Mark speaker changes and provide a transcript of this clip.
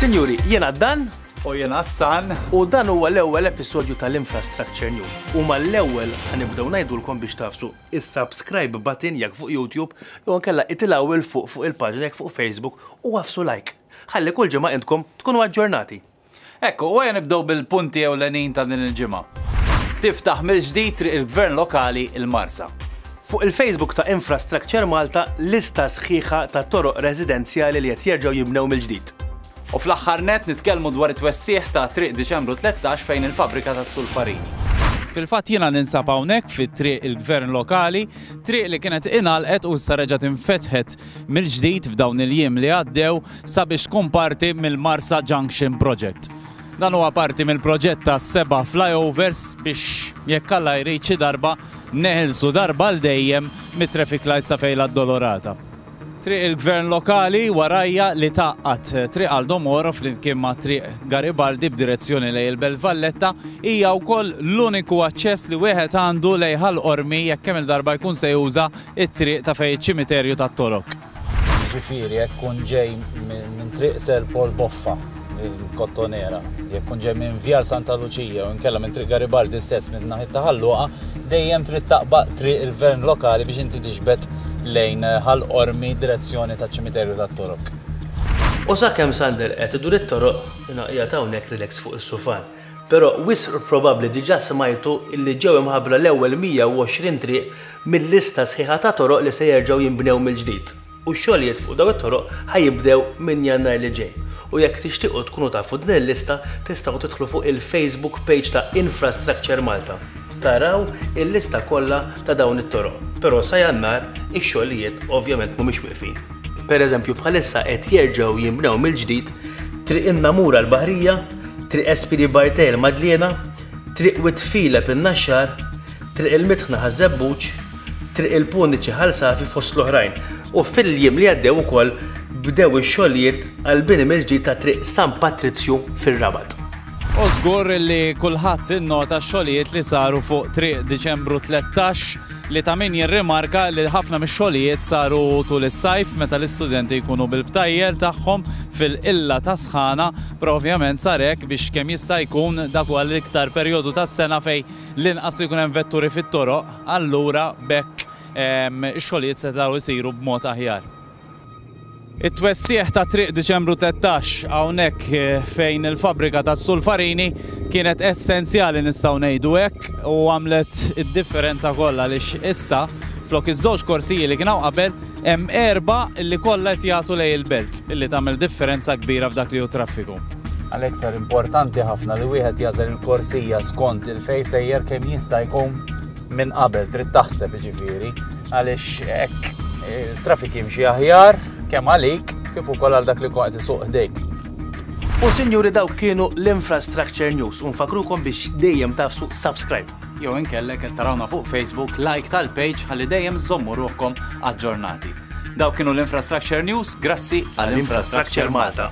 Speaker 1: Sinjuri, jena dan u jena san u dan huwa l-ewwel episodju tal-Infrastructure News u mal-ewwel ħanibdew ngħidulkom biex tafsu is-subscribe button jekk fuq YouTube jew ankella itilgħu il fuq fuq il-paġna jekk fuq Facebook u għafsu like. Ħalli kull ġimgħa intkom tkunu aġġornati. Hekk, u ejja nibdew bil-punti ewlenin ta' din il-ġimgħa. Tiftaħ mill-ġdid Triq il-Gvern Lokali l-Marsa. Fuq il-Facebook ta' Infrastructure Malta lista sħiħa ta' toroq residenzjali li qed jerġgħu jinbnew mill-ġdid. U fl-aħħar nett nitkellmu dwar it-twessigħ ta' Triq Diċembru 13 fejn il-fabbrika tas-sulfarini. Fil-fatt jiena ninsab hawnhekk fi Triq il-Gvern Lokali, triq li kienet ingħalqet u issa reġgħet infetħet mill-ġdid f'dawn il-jiem li għaddew sabiex tkun parti mill-Marsa Junction Project. Dan huwa parti mill-proġett ta' seba' flyovers biex jekk Alla jrid xi darba neħilsu darba għal dejjem mit-traffic lights ta' Fejn l-Addolorata. Triq il-Gvern Lokali warajja li tgħaqqad Triq Aldo Moro flimkien ma' Triq Garibaldi b'direzzjoni lejn il-Belt Valletta hija wkoll l-uniku aċċess li wieħed għandu lejn Ħal Qormi jekk kemm-il darba jkun se juża it-triq ta' fejn iċ-ċimiterju tat-Torok. Jiġifieri jekk tkun ġej minn Triq Sir Paul Boffa, il-Kottonera, jekk tkun ġej minn Vjal Santa Luċija jew inkella minn Triq Garibaldi stess minn naħiet ta' Ħal Luqa, dejjem trid taqba' Triq il-Gvern Lokali biex inti tixbet lejn Ħal Qormi direzzjoni taċ-ċimiterju tat-Torok. U sakemm Sander qed idur it-toroq, ingħaqjad hawnhekk relax fuq is-sufan. Però wisq probabbli diġà smajtu illi ġew imħabbra l-ewwel 120 triq mil-lista sħiħa ta' toroq li se jerġgħu jinbnew mill-ġdid u x-xogħlijiet fuq dawn it-toroq ħa jibdew minn Jannar li ġej u jekk tixtiequ tkunu tafu din il-lista tistgħu tidħlu fuq il-Facebook page ta' Infrastructure Malta taraw il-lista kollha ta' dawn it-toroq. Però sa Jannar ix-xogħlijiet ovvjament mhumiex wieqfin. Per eżempju bħalissa qed jerġgħu jinbnew mill-ġdid Triq in-Namur għall-Baħrija, Triq Espiri Bartej il-Madliena, Triq Wied Filep in-Naxxar, Triq il-Mitħna ħaż-Żebbuġ, Triq il-Puniċi Ħal Safi fost l-oħrajn. U fil-jiem li għaddew ukoll bdew ix-xogħlijiet għall-bini mill-ġdid ta' Triq San Patrizju fir-Rabat. U żgur li kulħadd innota x-xogħlijiet li saru fuq Triq Diċembru Tlettax. li ta' min jirrimarka li ħafna mix-xogħlijiet saru tul is-sajf meta l-istudenti jkunu bil-btajjel tagħhom fil-qilla tas-sħana, però ovvjament sar hekk biex kemm jista' jkun dak huwa l-iktar perjodu tas-sena fejn l-inqas ikun hemm vetturi fit-toroq, allura b'hekk ix-xogħlijiet setgħu jsiru b'mod aħjar. It-twessigħ ta' Triq Diċembru Tettax hawnhekk fejn il-fabbrika tas-Sulfarini kienet essenzjali nistgħu ngħidu hekk u għamlet id-differenza kollha għaliex issa flok iż-żewġ korsiji li kien hawn qabel hemm erba' li kollha qed jagħtu lejn il-belt li tagħmel differenza kbira f'dak li hu t-traffiku. Għalhekk sar importanti ħafna li wieħed jagħżel il-korsija skont il-fejn sejjer kemm jista' jkun minn qabel trid taħseb jiġifieri għaliex hekk il-trafik jimxi aħjar kemm għalik kif ukoll għal dak li qed isuq ħdejk. U sinjuri dawk kienu l-Infrastructure News u nfakrukom biex dejjem tafsu subscribe. Jew inkellek qed tarawna fuq Facebook like tal-page ħalli dejjem żommu ruħkom aġġornati. Dawk kienu l-Infrastructure News, grazzi għall-Infrastructure Malta.